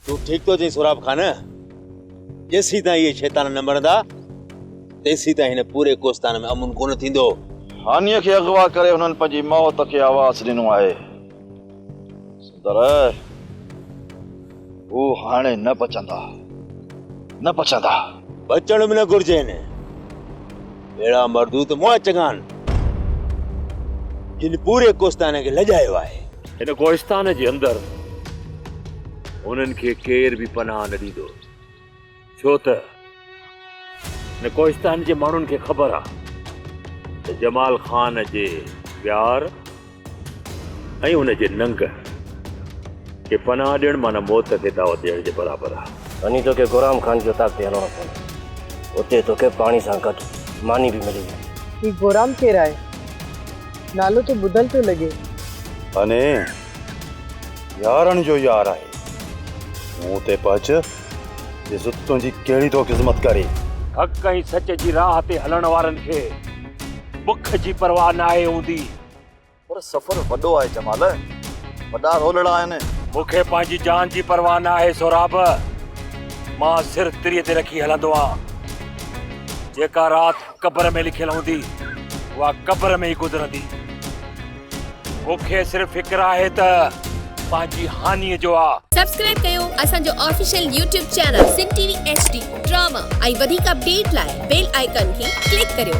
تون ٺيڪ ٿو چين سوراب خان جيسين تائين اهي شيطان نه مرندا تيسين تائين هن پوري ڪوستان ۾ امن ڪونه ٿيندو هانيء کي اغوا ڪري هنن پنهنجي موت کي آواز ڏنو آهي پر هو هاڻي نه پچندا، نه پچندا. پچڻ به نه گهرجين. اهڙا مردود مئا چڱا آهن، جن پوري ڪوهستان کي لڄايو آهي. هن ڪوهستان جي اندر هنن کي ڪير به پناهه نه ڏيندو. ڇو ته هن ڪوهستان جي ماڻهن کي خبر آ ته جمال خان جي ويار ۽ ان جي ننگ کي پناهه ڏيڻ معنيٰ موت کي دعوت ڏيڻ جي برابر آ. وڃي توکي غرام خان جي اتاق تي هلڻو پوندو. اتي توکي پاڻي سان گڏ ماني به ملي ويندي. هي غرام ڪير آهي؟ نالو ته ٻڌل ٿو لڳي. هني يارن جو يار آهي. مون اتي پهچ ڏس ته تنهنجي ڪهڙي ٿو خذمت ڪري. حق ۽ سچ جي راهه تي هلڻ وارن کي بک جي پرواهه ناهي هوندي. پر سفر وڏو آهي جمال. وڏا رولڙا آهن. مون کي پنهنجي جان جي پرواهه ناهي سهراب. مان سر تري تي رکي هلندو آهيان. جيڪا رات. قبر ۾ لکيل هوندي اها قبر ۾ ئي گذرندي مون کي صرف فڪر آهي ته پنهنجي هانيء جو آ سبسڪرائب ڪيو اسان جو official YouTube channel Sindh T V H D drama ۽ وڌيڪ اپڊيٽ لاء بيل آئيڪان کي ڪلڪ ڪريو.